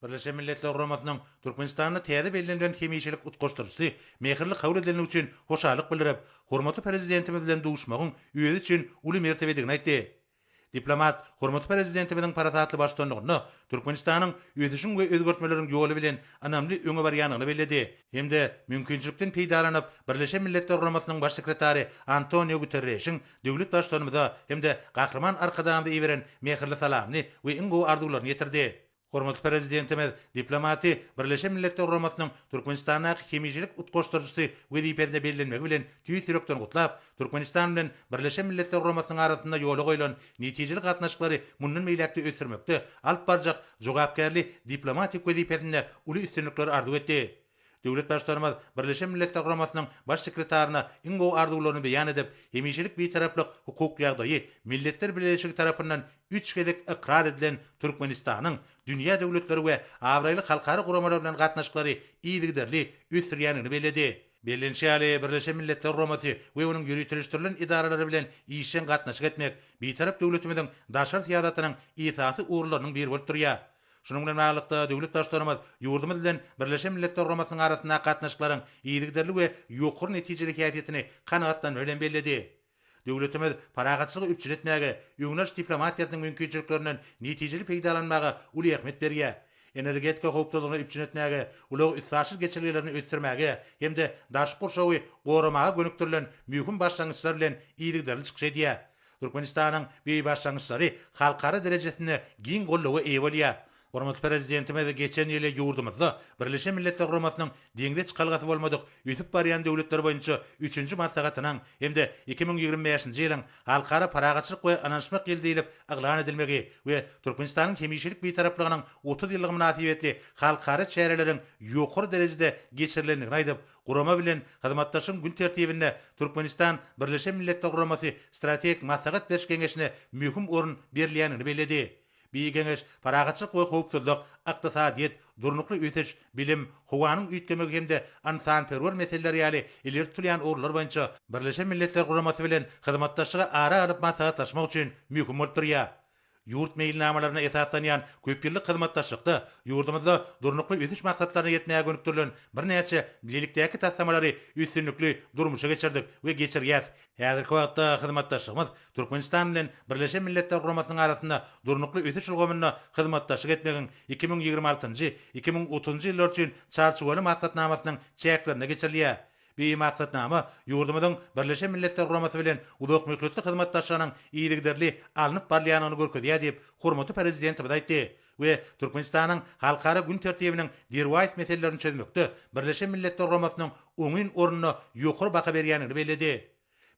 Birleşen Milletler Guramasynyň Türkmenistanda täze bellenilen hemişelik utgaşdyryjysy mähirli kabul edilendigi üçin hoşallyk bildirip, hormatly Prezidentimiz bilen duşmagyň özi üçin uly mertebedigini aýtdy. Diplomat hormatly Prezidentimiziň parasatly baştutanlygynda Türkmenistanyň ösüşiň we özgertmeleriň ýoly bilen ynamly öňe barýandygyny belledi hem-de mümkinçilikden peýdalanyp, Birleşen Milletler Guramasynyň Baş sekretary Antonio Guterreşiň döwlet Baştutanymyza hem-de Gahryman Arkadagymyza iberen mähirli salamyny we iň gowy arzuwlaryny ýetirdi. Hormatly Prezidentimiz diplomaty Birleşen Milletler Guramasynyň Türkmenistandaky hemişelik utgaşdyryjysy wezipesine bellenmegi bilen tüýs ýürekden gutlap, Türkmenistan bilen Birleşen Milletler Guramasynyň arasynda ýola goýlan netijeli gatnaşyklary mundan beýläk-de ösdürmekde alyp barjak jogapkärli diplomatik wezipesinde uly üstünlikleri arzuw etdi. Döwlet Baştutanymyz Birleşen Milletler Guramasynyň Baş sekretaryna iň gowy arzuwlaryny beýan edip, hemişelik Bitaraplyk hukuk ýagdaýy Milletler Bileleşigi tarapyndan üç gezek ykrar edilen Türkmenistanyň dünýä döwletleri we abraýly halkara guramalary bilen gatnaşyklary yzygiderli ösdürýändigini belledi. Bellenişi ýaly, Birleşen Milletler Guramasy we onuň ýöriteleşdirilen edaralary bilen işjeň gatnaşyk etmek Bitarap döwletimiziň daşary syýasatynyň esasy ugurlarynyň biri bolup durýar. Şunuň bilen baglylykda, döwlet Baştutanymyz ýurdumyz bilen Birleşen Milletler Guramasynyň arasyndaky gatnaşyklaryň yzygiderli we ýokary netijeli häsiýetini kanagatlanma bilen belledi. Döwletimiz parahatçylygy üpjün etmäge, öňdebaryş diplomatiýasynyň mümkinçiliklerinden netijeli peýdalanmaga uly ähmiýet berýär, energetika howpsuzlygyny üpjün etmäge, ulag-üstaşyr geçelgelerini ösdürmäge hem-de daşky gurşawy goramaga gönükdirilen möhüm başlangyçlar bilen yzygiderli çykyş edýär. Türkmenistanyň beý başlangyçlary halkara derejesinde giň goldawa eýe bolýar. Hormatly Prezidentimiz geçen ýyly ýurdumyzda Birleşen Milletler Guramasynyň Deňze çykalgasy bolmadyk ösüp barýan döwletler boýunça üçünji maslahatynyň hem-de iki müň ýigrimi bäşinji ýylyň Halkara parahatçylyk we ynanyşmak ýyly diýlip yglan edilmegi we Türkmenistanyň hemişelik Bitaraplygynyň otuz ýyllygy mynasybetli halkara çäreleriň ýokary derejede geçirilendigini aýdyp, Gurama bilen hyzmatdaşlygyň gün tertibinde Türkmenistan Birleşen Milletler Guramasy Strategik maslahat beriş geňeşine möhüm orun berilýändigini belledi. Bi geňeş parahatçylyk we howpsuzlyk, ykdysadyýet, durnukly ösüş, bilim, howanyň üýtgemegi hem-de ynsanperwer meseleler ýaly ileri tutulýan ugurlar boýunça Birleşen Milletler Guramasy bilen hyzmatdaşlygy ara alyp maslahatlaşmak üçin möhüm bolup durýar. Ýurt meýilnamalaryna esaslanýan köpýyllyk hyzmatdaşlykda ýurdumyzda Durnukly ösüş maksatlaryna ýetmäge gönükdirilen birnäçe bilelikdäki taslamalary üstünlikli durmuşa geçirdik we geçirýäs. Häzirki wagtda hyzmatdaşlygymyz Türkmenistan bilen Birleşen Milletler Guramasynyň arasynda Durnukly ösüş ulgamynda hyzmatdaşlyk etmegiň iki müň ýigrimi altynjy, iki müň otuzynjy ýyllar üçin Çarçuwaly maksatnamasynyň çäklerinde geçirilýär. Bi maksatnama ýurdumyzyň Birleşen Milletler Guramasy bilen uzakmöhletli hyzmatdaşlygynyň yzygiderli alnyp barylýandygyny görkezýär diýip, hormatly Prezidentimiz aýtdy we Türkmenistanyň halkara gün tertibiniň derwaýys meselelerini çözmekde Birleşen Milletler Guramasynyň oňyn ornuna ýokary baha berýändigini belledi.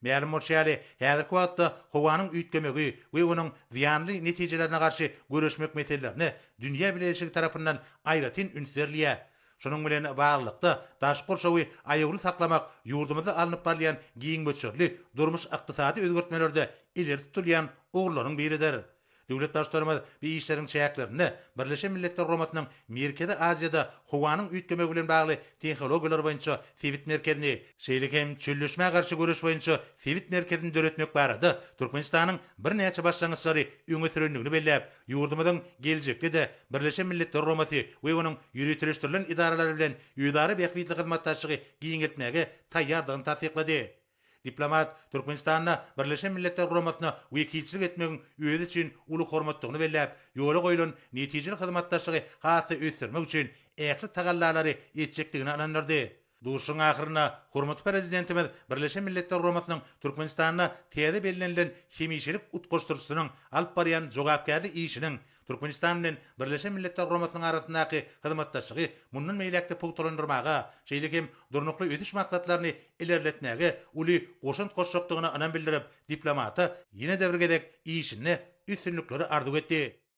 Mälim bolşy ýaly, häzirki wagtda howanyň üýtgemegi we onuň zyýanly netijelerine garşy göreşmek meselelerine dünýä bileleşigi tarapyndan aýratyn üns berilýär. Şunuň bilen baglylykda, daşky gurşawy aýawly saklamak ýurdumyzda alnyp barylýan giň möçberli durmuş-ykdysady özgertmelerde ileri tutulýan ugurlaryň biridir. Döwlet Baştutanymyz bu işleriň çäklerinde Birleşen Milletler Guramasynyň Merkezi Aziýada howanyň üýtgemegi bilen bagly tehnologiýalar boýunça sebit merkezini, şeýle hem çölleşmä garşy göreş boýunça sebit merkezini döretmek barada Türkmenistanyň birnäçe başlangyçlary öňe sürendigini belläp, ýurdumyzyň geljekde-de Birleşen Milletler Guramasy we onuň ýöriteleşdirilen edaralary bilen özara bähbitli hyzmatdaşlygy giňeltmäge taýýardygyny tassyklady. Diplomat Türkmenistanda Birleşen Milletler Guramasyna wekilçilik etmegiň özi üçin uly hormatdygyny belläp, ýola goýlan netijeli hyzmatdaşlygy has-da ösdürmek üçin ähli tagallalary etjekdigine ynandyrdy. Duşuşygyň ahyrynda hormatly Prezidentimiz Birleşen Milletler Guramasynyň Türkmenistanda täze bellenilen hemişelik utgaşdyryjysynyň alyp barýan jogapkärli işiniň Türkmenistan bilen Birleşen Milletler Guramasynyň arasyndaky hyzmatdaşlygy mundan beýläk-de pugtalandyrmaga, şeýle hem Durnukly ösüş maksatlaryny ilerletmäge uly goşant goşjakdygyna ynam bildirip, diplomata ýene-de bir gezek işinde üstünlikleri arzuw etdi.